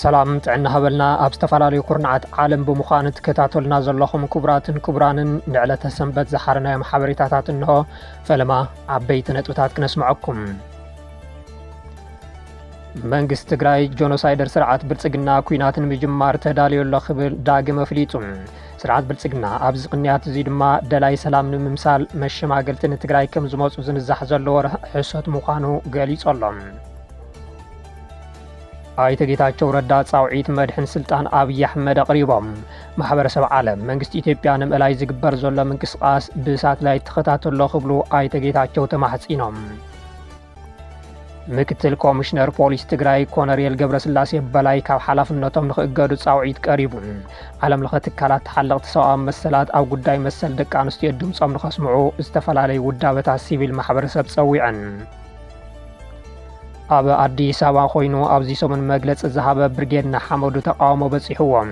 ሰላም ጥዕና ሃበልና ኣብ ዝተፈላለዩ ኩርናዓት ዓለም ብምዃን ትከታተሉና ዘለኹም ክቡራትን ክቡራንን ንዕለተ ሰንበት ዝሓረናዮም ሓበሬታታት እንሆ ፈለማ ዓበይቲ ነጥብታት ክነስምዐኩም መንግስቲ ትግራይ ጆኖሳይደር ስርዓት ብልፅግና ኩናት ንምጅማር ተዳልዮ ኣሎ ክብል ዳግም ኣፍሊጡ። ስርዓት ብልፅግና ኣብዚ ቅንያት እዚ ድማ ደላይ ሰላም ንምምሳል መሸማገልቲ ንትግራይ ከም ዝመፁ ዝንዛሕ ዘሎ ወረ ሕሶት ምዃኑ ገሊጹ ኣሎ። ኣይተ ጌታቸው ረዳ ጻውዒት መድሕን ስልጣን ኣብዪ ኣሕመድ ኣቕሪቦም። ማሕበረሰብ ዓለም መንግስቲ ኢትዮጵያ ንምእላይ ዝግበር ዘሎ ምንቅስቓስ ብሳትላይት ተኸታተሎ ክብሉ ኣይተ ጌታቸው ተማሕጺኖም። ምክትል ኮሚሽነር ፖሊስ ትግራይ ኮነሬል ገብረስላሴ በላይ ካብ ሓላፍነቶም ንክእገዱ ፃውዒት ቀሪቡ ዓለም ለኸ ትካላት ተሓለቕቲ ሰብኣዊ መሰላት ኣብ ጉዳይ መሰል ደቂ ኣንስትዮ ድምፆም ንኸስምዑ ዝተፈላለዩ ውዳበታት ሲቪል ማሕበረሰብ ፀዊዐን ኣብ ኣዲስ ኣበባ ኮይኑ ኣብዚ ሰሙን መግለፂ ዝሃበ ብርጌድ ንሓመዱ ተቃውሞ በፂሕዎም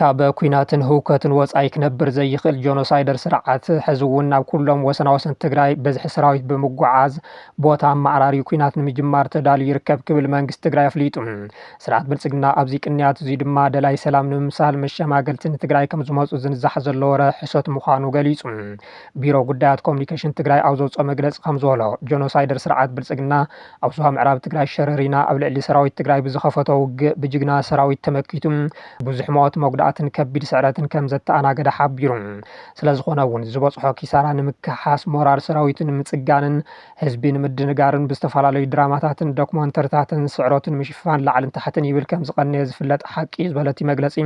ካብ ኲናትን ህውከትን ወጻኢ ክነብር ዘይኽእል ጆኖሳይደር ስርዓት ሕዚ እውን ናብ ኩሎም ወሰናወሰን ትግራይ ብዝሒ ሰራዊት ብምጉዓዝ ቦታ ኣመዓራርዩ ኲናት ንምጅማር ተዳልዩ ይርከብ ክብል መንግስቲ ትግራይ ኣፍሊጡ። ስርዓት ብልጽግና ኣብዚ ቅንያት እዙይ ድማ ደላይ ሰላም ንምምሳል መሸማገልቲ ንትግራይ ከምዝመጹ ዝንዛሕ ዘሎ ወረ ሕሶት ምዃኑ ገሊጹ። ቢሮ ጉዳያት ኮሙኒኬሽን ትግራይ ኣብ ዘውጽኦ መግለጺ ከምዝበሎ ጆኖሳይደር ስርዓት ብልጽግና ኣብ ዞባ ምዕራብ ትግራይ ሸረሪና ኣብ ልዕሊ ሰራዊት ትግራይ ብዝኸፈቶ ውግእ ብጅግና ሰራዊት ተመኪቱ ብዙሕ ሞት፣ መጉዳእትን ከቢድ ስዕረትን ከም ዘተኣናገደ ሓቢሩ። ስለዝኾነ እውን ዝበፅሖ ኪሳራ ንምክሕሓስ፣ ሞራል ሰራዊቱ ንምፅጋንን ህዝቢ ንምድንጋርን ብዝተፈላለዩ ድራማታትን ዶክሞንተሪታትን ስዕረቱ ንምሽፋን ላዕልን ታሕትን ይብል ከም ዝቐነየ ዝፍለጥ ሓቂ እዩ ዝበለቲ መግለፂ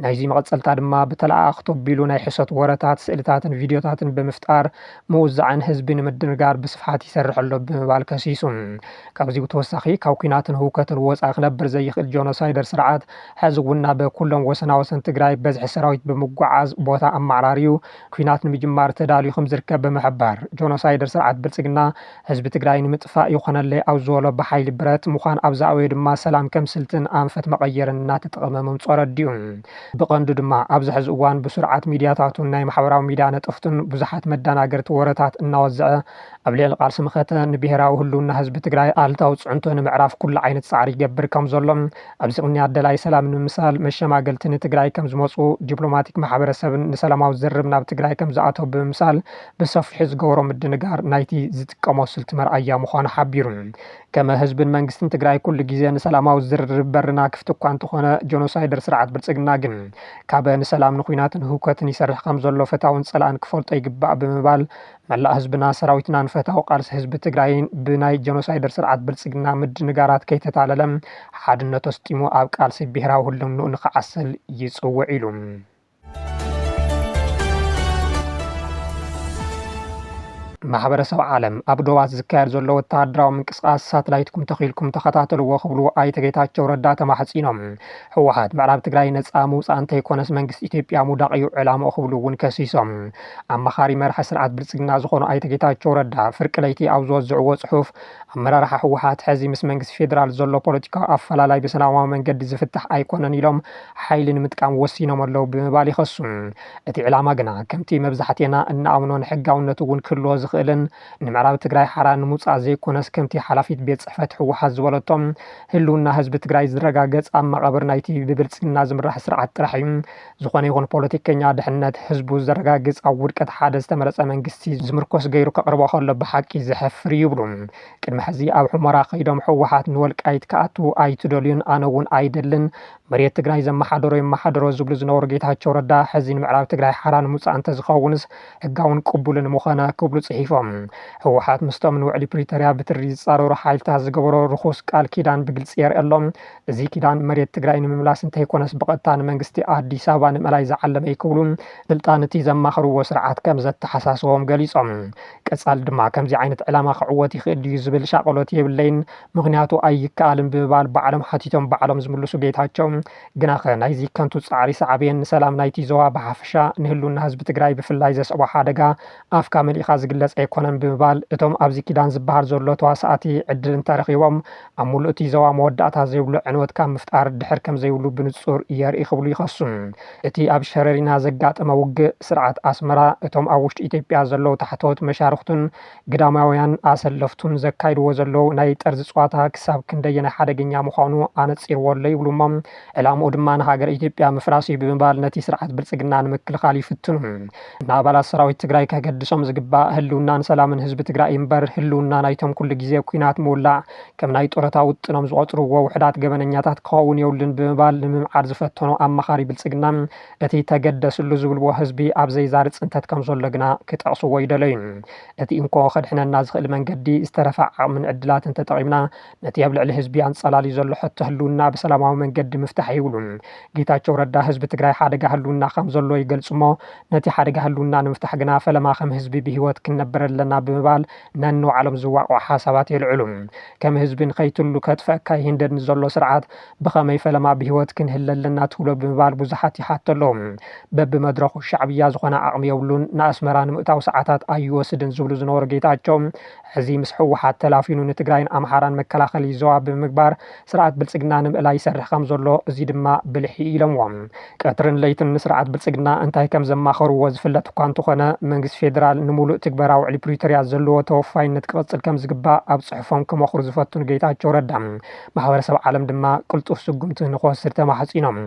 ናይዙይ መቐፀልታ ድማ ብተለኣኣኽቲ ኣቢሉ ናይ ሕሶት ወረታት፣ ስእሊታትን ቪድዮታትን ብምፍጣር ምውዛዕን ህዝቢ ንምድንጋር ብስፍሓት ይሰርሕ ኣሎ ብምባል ከሲሱ። ካብዙይ ብተወሳኺ ካብ ኲናትን ህውከትን ወፃኢ ክነብር ዘይኽእል ጆኖሳይደር ስርዓት ሐዚ እውን ናብ ኩሎም ወሰናወሰን ትግራይ በዝሒ ሰራዊት ብምጉዕዓዝ ቦታ ኣመዓራርዩ ኲናት ንምጅማር ተዳልዩ ከምዝርከብ ብምሕባር፣ ጆኖሳይደር ስርዓት ብልፅግና ህዝቢ ትግራይ ንምጥፋእ ይኾነለይ ኣብ ዝበሎ ብሓይሊ ብረት ምዃን ኣብ ዝኣበዮ ድማ ሰላም ከም ስልትን ኣንፈት መቐየርን እናተጠቐመ ምምፅኡ ኣረዲኡ። ብቐንዱ ድማ ኣብዚ ሐዚ እዋን ብስሩዓት ሚድያታቱን ናይ ማሕበራዊ ሚድያ ነጠፍቱን ብዙሓት መዳናገርቲ ወረታት እናወዘዐ ኣብ ልዕሊ ቃልሲ መኸተ ንብሄራዊ ህልውና ህዝቢ ትግራይ ኣሉታዊ ፅዕንቶ ንምዕራፍ ኩሉ ዓይነት ፃዕሪ ይገብር ከምዘሎ ኣብዚ ቅንያት ደላይ ሰላም ንምምሳል መሸማገልቲ ንትግራይ ከምዝመፁ ዲፕሎማቲክ ማሕበረሰብን ንሰላማዊ ዝርርብ ናብ ትግራይ ከምዝኣተው ብምምሳል ብሰፊሑ ዝገበሮ ምድንጋር ናይቲ ዝጥቀሞ ስልቲ መርኣያ ምዃኑ ሓቢሩ። ከመ ህዝብን መንግስትን ትግራይ ኩሉ ግዜ ንሰላማዊ ዝርርብ በርና ክፍቲ እኳ እንተኾነ ጆኖሳይደር ስርዓት ብልፅግና ግን ካበ ንሰላም ንኩናትን ህውከትን ይሰርሕ ከምዘሎ ፈታውን ፀላእን ክፈልጦ ይግባእ ብምባል መላእ ህዝብና ሰራዊትናን ፈታዊ ቃልሲ ህዝቢ ትግራይን ብናይ ጀኖሳይደር ስርዓት ብልፅግና ምድንጋራት ከይተታለለ ሓድነቱ ኣስጢሙ ኣብ ቃልሲ ብሄራዊ ህልውንኡ ንክዓስል ይፅውዕ ኢሉ። ማሕበረሰብ ዓለም ኣብ ዶባት ዝካየድ ዘሎ ወተሃደራዊ ምንቅስቓስ ሳትላይትኩም ተኺልኩም ተኸታተልዎ ክብሉ ኣይተ ጌታቸው ረዳ ተማሕፂኖም። ህወሓት ምዕራብ ትግራይ ነፃ ምውፃእ እንተይኮነስ መንግስቲ ኢትዮጵያ ምውዳቕ እዩ ዕላምኡ ክብሉ እውን ከሲሶም። ኣማኻሪ መራሒ ስርዓት ብልፅግና ዝኾኑ ኣይተ ጌታቸው ረዳ ፍርቂ ለይቲ ኣብ ዝወዝዕዎ ፅሑፍ ኣመራርሓ ህወሓት ሕዚ ምስ መንግስቲ ፌዴራል ዘሎ ፖለቲካዊ ኣፈላላይ ብሰላማዊ መንገዲ ዝፍታሕ ኣይኮነን ኢሎም ሓይሊ ንምጥቃም ወሲኖም ኣለው ብምባል ይኸሱ። እቲ ዕላማ ግና ከምቲ መብዛሕቴና እንኣምኖን ሕጋውነት እውን ክህልዎ ዝኽእልን ንምዕራብ ትግራይ ሓራ ንምውፃእ ዘይኮነስ ከምቲ ሓላፊት ቤት ፅሕፈት ህወሓት ዝበለቶ ህልውና ህዝቢ ትግራይ ዝረጋገፅ ኣብ መቓብር ናይቲ ብብልፅግና ዝምራሕ ስርዓት ጥራሕ እዩ። ዝኾነ ይኹን ፖለቲከኛ ድሕነት ህዝቡ ዘረጋግፅ ኣብ ውድቀት ሓደ ዝተመረፀ መንግስቲ ዝምርኮስ ገይሩ ከቕርቦ ከሎ ብሓቂ ዘሕፍር እዩ ይብሉ። ቅድሚ ሕዚ ኣብ ሑመራ ከይዶም ህወሓት ንወልቃይት ክኣትው ኣይትደልዩን ኣነ እውን ኣይደልን መሬት ትግራይ ዘመሓደሮ ይመሓደሮ ዝብሉ ዝነበሩ ጌታቸው ረዳ ሕዚ ንምዕራብ ትግራይ ሓራ ንምውፃእ እንተዝኸውንስ ሕጋውን ቅቡልን ምኾነ ክብሉ ፅሒፎም። ህወሓት ምስቶም ንውዕሊ ፕሪቶርያ ብትሪ ዝፃረሩ ሓይልታት ዝገበሮ ርኹስ ቃል ኪዳን ብግልፂ የርኢ ኣሎ። እዚ ኪዳን መሬት ትግራይ ንምምላስ እንተይኮነስ ብቐጥታ ንመንግስቲ ኣዲስ ኣበባ ንምእላይ ዝዓለመ እዩ ክብሉ ስልጣን እቲ ዘማኽርዎ ስርዓት ከምዘተሓሳስቦም ገሊፆም። ቀጻሊ ድማ ከምዚ ዓይነት ዕላማ ክዕወት ይኽእል ድዩ ዝብል ሻቐሎት የብለይን ምኽንያቱ ኣይከኣልን ብምባል ባዕሎም ሓቲቶም ባዕሎም ዝምልሱ ጌታቸው ግናኸ ናይዚ ከንቱ ጻዕሪ ሳዕቤን ንሰላም ናይቲ ዞባ ብሓፈሻ ንህልውና ህዝቢ ትግራይ ብፍላይ ዘስዕቦ ሓደጋ ኣፍካ መሊእኻ ዝግለጽ ኣይኮነን ብምባል እቶም ኣብዚ ኪዳን ዝበሃል ዘሎ ተዋሳእቲ ዕድል እንተረኺቦም ኣብ ሙሉእ እቲ ዞባ መወዳእታ ዘይብሉ ዕንወት ካብ ምፍጣር ድሕር ከምዘይብሉ ብንፁር የርኢ ክብሉ ይኸሱ። እቲ ኣብ ሸረሪና ዘጋጠመ ውግእ ስርዓት ኣስመራ እቶም ኣብ ውሽጢ ኢትዮጵያ ዘለዉ ታሕተዎት መሻርኽቱን ግዳማውያን ኣሰለፍቱን ዘካይድዎ ዘለዉ ናይ ጠርዚ ፅዋታ ክሳብ ክንደየናይ ሓደገኛ ምዃኑ ኣነፂርዎ ኣሎ ይብሉ እሞ ዕላምኡ ድማ ንሃገረ ኢትዮጵያ ምፍራስ እዩ ብምባል ነቲ ስርዓት ብልፅግና ንምክልኻል ይፍትኑ። ንኣባላት ሰራዊት ትግራይ ከገድሶም ዝግባእ ህልውናን ሰላምን ህዝቢ ትግራይ እምበር ህልውና ናይቶም ኩሉ ግዜ ኲናት ምውላዕ ከም ናይ ጡረታ ውጥኖም ዝቖፅርዎ ውሑዳት ገበነኛታት ክኸውን የብሉን ብምባል ንምምዓድ ዝፈተኑ ኣማኻሪ ብልፅግና እቲ ተገደስሉ ዝብልዎ ህዝቢ ኣብ ዘይዛሪ ፅንተት ከምዘሎ ግና ክጠቕስዎ ኣይደለዩን። እቲ እንኮ ከድሕነና ዝኽእል መንገዲ ዝተረፈ ዓቕምን ዕድላትን ተጠቒምና ነቲ ኣብ ልዕሊ ህዝቢ ኣንፀላልዩ ዘሎ ሕቶ ህልውና ብሰላማዊ መንገዲ ምፍታሕ ይብሉን። ጌታቸው ረዳ ህዝቢ ትግራይ ሓደጋ ህልውና ከም ዘሎ ይገልፁ'ሞ ነቲ ሓደጋ ህልውና ንምፍታሕ ግና ፈለማ ከም ህዝቢ ብህይወት ክንነብር ኣለና ብምባል ነንባዕሎም ዝዋቕዑ ሓሳባት የልዕሉ። ከም ህዝቢ ንኸይትህሉ ከጥፈእካ ይህንደድ ንዘሎ ስርዓት ብኸመይ ፈለማ ብህይወት ክንህሊ ኣለና ትብሎ ብምባል ብዙሓት ይሓቱ ኣለው። በቢመድረኹ ሻዕብያ ዝኾነ ዓቕሚ የብሉን፣ ንኣስመራ ንምእታው ሰዓታት ኣይወስድን ዝብሉ ዝነበሩ ጌታቸው፣ ሕዚ ምስ ህወሓት ተላፊኑ ንትግራይን ኣምሓራን መከላኸሊ ዞባ ብምግባር ስርዓት ብልፅግና ንምእላይ ይሰርሕ ከም ዘሎ እዙይ ድማ ብልሒ እዩ ኢሎምዎ። ቀትርን ለይትን ንስርዓት ብልፅግና እንታይ ከም ዘማኸርዎ ዝፍለጥ እኳ እንተኾነ መንግስቲ ፌዴራል ንሙሉእ ትግበራ ውዕሊ ፕሪቶሪያ ዘለዎ ተወፋይነት ክቕፅል ከም ዝግባእ ኣብ ፅሑፎም ክመኽሩ ዝፈቱ ንጌታቸው ረዳ ማሕበረሰብ ዓለም ድማ ቅልጡፍ ስጉምቲ ንክወስድ ተማሕፂኖም።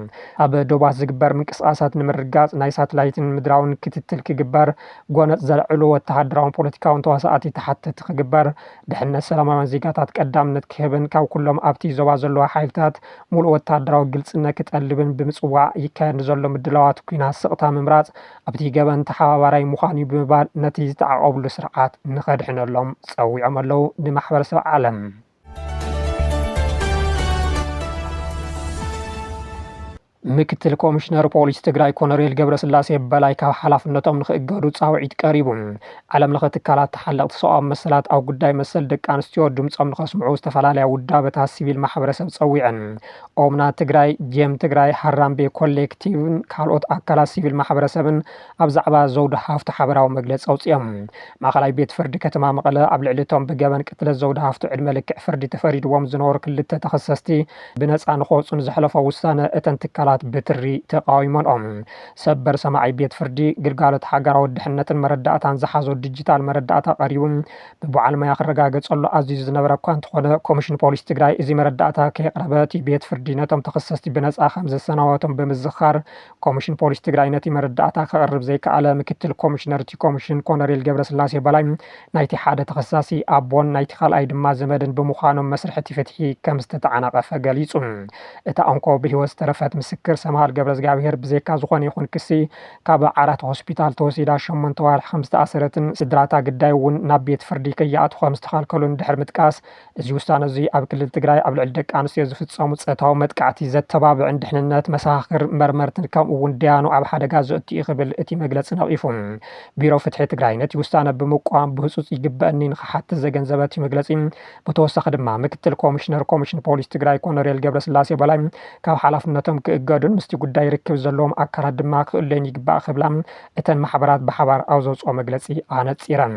ኣብ ዶባት ዝግበር ምንቅስቓሳት ንምርግጋፅ ናይ ሳትላይትን ምድራውን ክትትል ክግበር ጎነጽ ዘልዕሉ ወተሃደራውን ፖለቲካውን ተዋሳኣቲ ተሓተቲ ክግበር፣ ድሕነት ሰላማውያን ዜጋታት ቀዳምነት ክህብን ካብ ኩሎም ኣብቲ ዞባ ዘለዉ ሓይልታት ሙሉእ ወተሃደራዊ ግልጽነት ክጠልብን ብምጽዋዕ ይካየድ ንዘሎ ምድላዋት ኩናት ስቕታ ምምራጽ ኣብቲ ገበን ተሓባባራይ ምዃን'ዩ ብምባል ነቲ ዝተዓቖብሉ ስርዓት ንኸድሕነሎም ጸዊዖም ኣለዉ ንማሕበረሰብ ዓለም። ምክትል ኮሚሽነር ፖሊስ ትግራይ ኮነሬል ገብረስላሴ በላይ ካብ ሓላፍነቶም ንክእገዱ ፃውዒት ቀሪቡ። ዓለም ለኸ ትካላት ተሓለቕቲ ሰብኣዊ መሰላት ኣብ ጉዳይ መሰል ደቂ ኣንስትዮ ድምፆም ንከስምዑ ዝተፈላለያ ውዳበታት ሲቪል ማሕበረሰብ ፀዊዐን። ኦምና ትግራይ፣ ጄም ትግራይ፣ ሃራምቤ ኮሌክቲቭን ካልኦት ኣካላት ሲቪል ማሕበረሰብን ኣብ ዛዕባ ዘውዲ ሃፍቱ ሓበራዊ መግለፂ ኣውፂኦም። ማእኸላይ ቤት ፍርዲ ከተማ መቐለ ኣብ ልዕሊ እቶም ብገበን ቅትለት ዘውዲ ሃፍቱ ዕድመ ልክዕ ፍርዲ ተፈሪድዎም ዝነበሩ ክልተ ተኸሰስቲ ብነፃ ንክወፁ ንዘሕለፎ ውሳነ እተን ትካላት ብትሪ ተቓዊመንኦ። ሰበር ሰማዒ ቤት ፍርዲ፣ ግልጋሎት ሃገራዊ ድሕነትን መረዳእታን ዝሓዞ ዲጂታል መረዳእታ ቀሪቡ ብበዓል ሞያ ክረጋገፀሉ ኣዚዙ ዝነበረ እኳ እንተኾነ ኮሚሽን ፖሊስ ትግራይ እዚ መረዳእታ ከየቕረበ እቲ ቤት ፍርዲ ነቶም ተኸሰስቲ ብነፃ ከምዘሰናበቶም ብምዝኻር ኮሚሽን ፖሊስ ትግራይ ነቲ መረዳእታ ከቕርብ ዘይከኣለ ምክትል ኮሚሽነር እቲ ኮሚሽን ኮነሬል ገብረስላሴ በላይ ናይቲ ሓደ ተኸሳሲ ኣቦን ናይቲ ካልኣይ ድማ ዘመድን ብምዃኖም መስርሕ እቲ ፍትሒ ከም ዝተተዓናቐፈ ገሊጹ። እታ እንኮ ብህይወት ዝተረፈት ምስክር ሰምሃል ገብረዝግኣብሄር ብዘይካ ዝኾነ ይኹን ክሲ ካብ ዓራት ሆስፒታል ተወሲዳ ሸሞንተ ኣዋርሕ ከም ዝተኣሰረትን ስድራ'ታ ግዳይ'ውን ናብ ቤት ፍርዲ ከይኣትዉ ከም ዝተኸልከሉን ድሕሪ ምጥቃስ እዚ ውሳነ እዙይ ኣብ ክልል ትግራይ ኣብ ልዕሊ ደቂ ኣንስትዮ ዝፍፀሙ ፆታዊ መጥቃዕቲ ዘተባብዕን ድሕንነት መሰኻኽር መርመርትን ከምኡ እውን ደያኑ ኣብ ሓደጋ ዘእቱ እዩ ክብል እቲ መግለፂ ነቒፉ። ቢሮ ፍትሒ ትግራይ ነቲ ውሳነ ብምቋም ብህፁፅ ይግበእኒ ንኽሓትት ዘገንዘበ እቲ መግለፂ ብተወሳኺ ድማ ምክትል ኮሚሽነር ኮሚሽን ፖሊስ ትግራይ ኮነሬል ገብረስላሴ በላይ ካብ ሓላፍነቶም ክእገዱን ምስቲ ጉዳይ ርክብ ዘለዎም ኣካላት ድማ ክእለዩን ይግባእ ክብላ እተን ማሕበራት ብሓባር ኣብ ዘውፅኦ መግለፂ ኣነፂረን።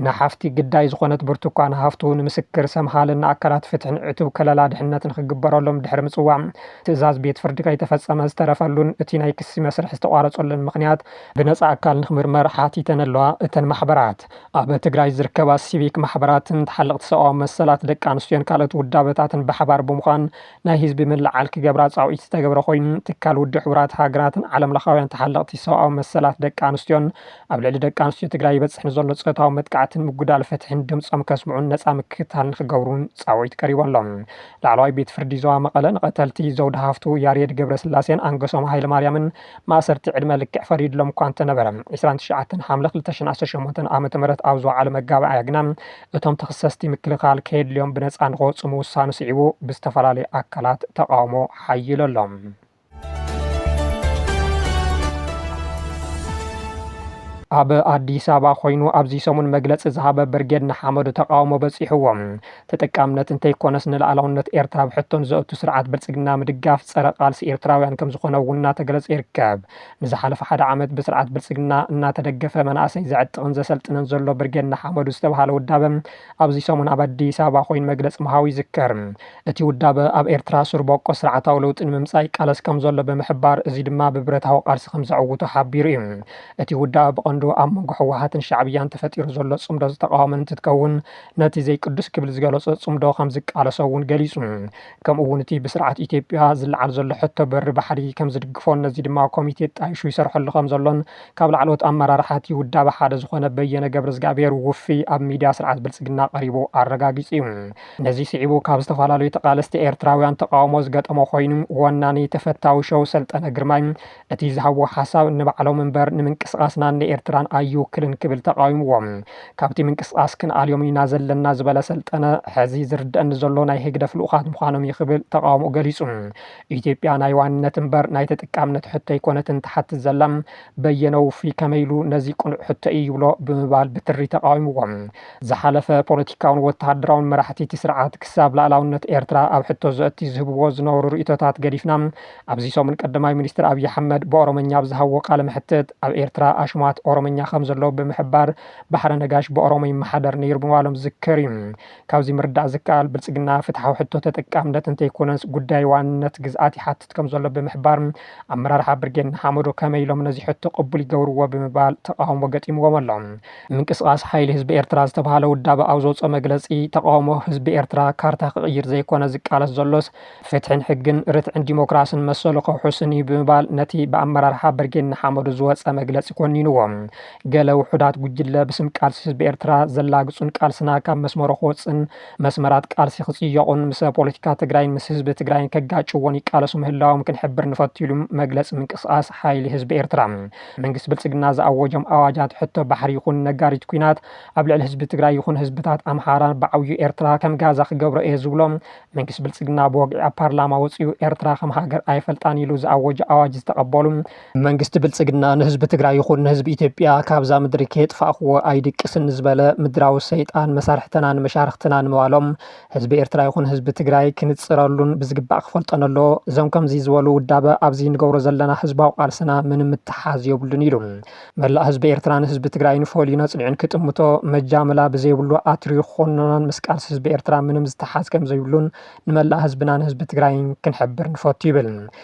ንሓፍቲ ግዳይ ዝኾነት ብርቱኳን ሃፍቱ ንምስክር ሰምሃልን ንኣካላት ፍትሕን ዕቱብ ከለላ ድሕነት ንክግበረሎም ድሕሪ ምፅዋዕ ትእዛዝ ቤት ፍርዲ ከይተፈፀመ ዝተረፈሉን እቲ ናይ ክሲ መስርሕ ዝተቋረፀሉን ምኽንያት ብነፃ ኣካል ንክምርመር ሓቲተን ኣለዋ። እተን ማሕበራት ኣብ ትግራይ ዝርከባ ሲቪክ ማሕበራትን ተሓለቕቲ ሰብኣዊ መሰላት ደቂ ኣንስትዮን ካልኦት ውዳበታትን ብሓባር ብምዃን ናይ ህዝቢ ምልዕዓል ክገብራ ፃውዒት ዝተገብረ ኮይኑ ትካል ውድብ ሕቡራት ሃገራትን ዓለምለኻውያን ተሓለቕቲ ሰብኣዊ መሰላት ደቂ ኣንስትዮን ኣብ ልዕሊ ደቂ ኣንስትዮ ትግራይ ይበፅሕ ንዘሎ ፆታዊ መጥቃዕትን ምጉዳል ፍትሒን ድምፆም ከስምዑን ነፃ ምክትታል ንክገብሩን ፃውዒት ቀሪቡ ኣሎ። ላዕለዋይ ቤት ፍርዲ ዞባ መቐለ ንቐተልቲ ዘውዲ ሃፍቱ፣ ያሬድ ገብረስላሴን ኣንገሶም ሃይለማርያምን ማእሰርቲ ዕድመ ልክዕ ፈሪድሎም እኳ እንተነበረ ዕስራን ትሽዓተን ሓምለ ክልተ ሽሕን ዓሰርተ ሸሞንተ ዓ ም ኣብ ዝወዓለ መጋባእያ ግና እቶም ተኽሰስቲ ምክልኻል ከየድልዮም ብነፃ ንክወፁ ምውሳኑ ስዒቡ ብዝተፈላለዩ ኣካላት ተቓውሞ ሓይሉ ኣሎ። ኣብ ኣዲስ ኣበባ ኮይኑ ኣብዚ ሰሙን መግለፂ ዝሃበ ብርጌድ ንሓመዱ ተቃውሞ በፂሕዎም ተጠቃምነት እንተይኮነስ ንላዕላውነት ኤርትራ ኣብ ሕቶን ዘእቱ ስርዓት ብልፅግና ምድጋፍ ፀረ ቃልሲ ኤርትራውያን ከምዝኾነ እውን እናተገለፀ ይርከብ። ንዝሓለፈ ሓደ ዓመት ብስርዓት ብልፅግና እናተደገፈ መናእሰይ ዘዕጥቕን ዘሰልጥንን ዘሎ ብርጌድ ንሓመዱ ዝተብሃለ ውዳበ ኣብዚ ሰሙን ኣብ ኣዲስ ኣበባ ኮይኑ መግለፂ ምሃቡ ይዝከር። እቲ ውዳበ ኣብ ኤርትራ ሱር ቦቆስ ስርዓታዊ ለውጢ ንምምጻእ ይቃለስ ከምዘሎ ብምሕባር እዚ ድማ ብብረታዊ ቃልሲ ከምዘዕውቶ ሓቢሩ እዩ። እቲ ውዳበ ብቐንዱ ኣብ መንጎ ህወሓትን ሻዕብያን ተፈጢሩ ዘሎ ጽምዶ ዝተቓወመን እንትትከውን ነቲ ዘይቅዱስ ክብል ዝገለጾ ጽምዶ ከምዝቃለሶ እውን ገሊጹ። ከምኡ'ውን እቲ ብስርዓት ኢትዮጵያ ዝለዓል ዘሎ ሕቶ በሪ ባሕሪ ከምዝድግፎን ነዚ ድማ ኮሚቴ ጣይሹ ይሰርሐሉ ከምዘሎን ካብ ላዕለዎት ኣመራርሓ እቲ ውዳበ ሓደ ዝኾነ በየነ ገብረዝግኣብሄር ውፍይ ኣብ ሚድያ ስርዓት ብልጽግና ቀሪቡ ኣረጋጊጹ እዩ። ነዚ ስዒቡ ካብ ዝተፈላለዩ ተቓለስቲ ኤርትራውያን ተቓውሞ ዝገጠሞ ኮይኑ፣ ወናኒ ተፈታዊ ሸው ሰልጠነ ግርማይ እቲ ዝሃብዎ ሓሳብ ንባዕሎም እምበር ንምንቅስቓስናን ንኤርትራን ኣይውክልን ክብል ተቓዊምዎ። ካብቲ ምንቅስቓስ ክንኣልዮም ኢና ዘለና ዝበለ ሰልጠነ፣ ሕዚ ዝርደኣኒ ዘሎ ናይ ህግደፍ ልኡኻት ምዃኖም እዩ ክብል ተቓውሞኡ ገሊጹ። ኢትዮጵያ ናይ ዋንነት እምበር ናይ ተጠቃምነት ሕቶ ኣይኮነትን ትሓትት ዘላ፣ በየነ ውፉይ ከመይ ኢሉ ነዚ ቅኑዕ ሕቶ'ዩ ይብሎ ብምባል ብትሪ ተቓዊምዎ። ዝሓለፈ ፖለቲካውን ወተሃደራውን መራሕቲ'ቲ ስርዓት ክሳብ ላእላውነት ኤርትራ ኣብ ሕቶ ዘእቲ ዝህብዎ ዝነበሩ ርእይቶታት ገዲፍና፣ ኣብዚ ሰሙን ቀዳማይ ሚኒስትር ኣብይ ኣሕመድ ብኦሮምኛ ኣብ ዝሃብዎ ቃለ መሕትት ኣብ ኤርትራ ኣሽማት ኦሮምኛ ከም ዘለው ብምሕባር ባሕረ ነጋሽ ብኦሮሞ ይመሓደር ነይሩ ምባሎም ዝዝከር እዩ። ካብዚ ምርዳእ ዝከኣል ብልጽግና ፍትሓዊ ሕቶ ተጠቃምነት እንተይኮነስ ጉዳይ ዋንነት ግዝኣት ይሓትት። ከምዘሎ ብምሕባር፣ ኣመራርሓ ብርጌድ ንሓመዱ ከመይ ኢሎም ነዚ ሕቶ ቅቡል ይገብርዎ ብምባል ተቓውሞ ገጢምዎም ኣሎ። ምንቅስቓስ ሓይሊ ህዝቢ ኤርትራ ዝተብሃለ ውዳበ ኣብ ዘውጽኦ መግለጺ፣ ተቓውሞ ህዝቢ ኤርትራ ካርታ ክቕይር ዘይኮነ ዝቃለስ ዘሎስ፣ ፍትሕን ሕግን፣ ርትዕን ዲሞክራስን መሰሉ ከውሕስን እዩ ብምባል ነቲ ብኣመራርሓ ብርጌድ ንሓመዱ ዝወጸ መግለጺ ኮኒንዎ። ገለ ውሑዳት ጉጅለ ብስም ቃልሲ ህዝቢ ኤርትራ ዘላግጹን ቃልስና ካብ መስመሩ ክወጽእን፣ መስመራት ቃልሲ ክፅየቑን ምስ ፖለቲካ ትግራይን ምስ ህዝቢ ትግራይን ከጋጭዎን ይቃለሱ ምህላዎም ክንሕብር ንፈቱ ኢሉ መግለፂ ምንቅስቓስ ሓይሊ ህዝቢ ኤርትራ። መንግስቲ ብልፅግና ዝኣወጆም ኣዋጃት ሕቶ ባሕሪ ይኹን ነጋሪት ኲናት ኣብ ልዕሊ ህዝቢ ትግራይ ይኹን ህዝብታት ኣምሓራ ብዓብዩ ኤርትራ ከም ጋዛ ክገብሮ እየ ዝብሎ መንግስቲ ብልፅግና ብወግዒ ኣብ ፓርላማ ወፂኡ ኤርትራ ከም ሃገር ኣይፈልጣን ኢሉ ዝኣወጆ ኣዋጅ ዝተቐበሉ መንግስቲ ብልፅግና ንህዝቢ ትግራይ ይኹን ንህዝቢ ኢትዮጵያ ካብዛ ምድሪ ከየጥፋእኹዎ ኣይድቅስን ዝበለ ምድራዊ ሰይጣን መሳርሕተናን መሻርኽትናን ምባሎም ህዝቢ ኤርትራ ይኹን ህዝቢ ትግራይ ክንፅረሉን ብዝግባእ ክፈልጦን ኣለዎ። እዞም ከምዚ ዝበሉ ውዳበ ኣብዚ ንገብሮ ዘለና ህዝባዊ ቃልስና ምንም ምትሓሓዝ የብሉን ኢሉ መላእ ህዝቢ ኤርትራን ህዝቢ ትግራይን ፈልዩን ኣፅኒዑን ክጥምቶ መጃምላ ብዘይብሉ ኣትርዩ ክኹንኖን ምስ ቃልሲ ህዝቢ ኤርትራ ምንም ዝተሓሓዝ ከምዘይብሉን ንመላእ ህዝብናን ህዝቢ ትግራይን ክንሕብር ንፈቱ ይብል።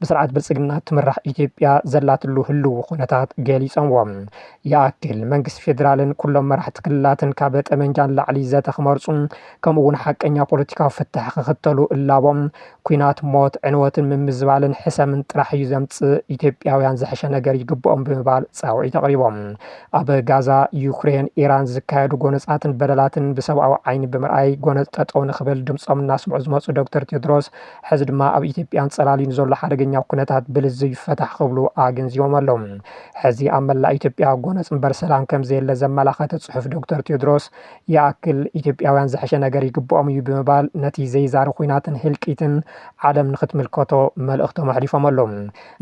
ብስርዓት ብልፅግና እትምራሕ ኢትዮጵያ ዘላትሉ ህልው ኹነታት ገሊፆምዎ። ይኣክል መንግስቲ ፌዴራልን ኩሎም መራሕቲ ክልላትን ካብ ጠመንጃ ንላዕሊ ዘተ ክመርፁ ከምኡ እውን ሓቀኛ ፖለቲካዊ ፍታሕ ክኽተሉ እላቦም። ኲናት ሞት፣ ዕንወትን ምምዝባልን ሕሰምን ጥራሕ እዩ ዘምፅእ። ኢትዮጵያውያን ዝሐሸ ነገር ይግበኦም ብምባል ፃውዒት ኣቕሪቦም። ኣብ ጋዛ፣ ዩክሬን፣ ኢራን ዝካየዱ ጎነፃትን በደላትን ብሰብኣዊ ዓይኒ ብምርኣይ ጎነፅ ጠጠው ንኽብል ድምፆም እናስምዑ ዝመፁ ዶክተር ቴድሮስ፣ ሕዚ ድማ ኣብ ኢትዮጵያን ፀላሊ ንዘሎ ሓደገኛ ኩነታት ብልዝብ ይፈታሕ ክብሉ ኣገንዚቦም ኣለው። ሕዚ ኣብ መላእ ኢትዮጵያ ጎነፅ እምበር ሰላም ከምዘየለ ዘመላኸተ ፅሑፍ ዶክተር ቴድሮስ ይኣክል ኢትዮጵያውያን ዝሐሸ ነገር ይግብኦም እዩ ብምባል ነቲ ዘይዛሪ ኩናትን ህልቂትን ዓለም ንክትምልከቶ መልእኽቶም ኣሕሊፎም ኣለው።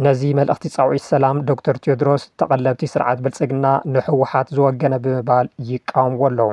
ነዚ መልእኽቲ ፃውዒት ሰላም ዶክተር ቴድሮስ ተቐለብቲ ስርዓት ብልፅግና ንህወሓት ዝወገነ ብምባል ይቃወምዎ ኣለው።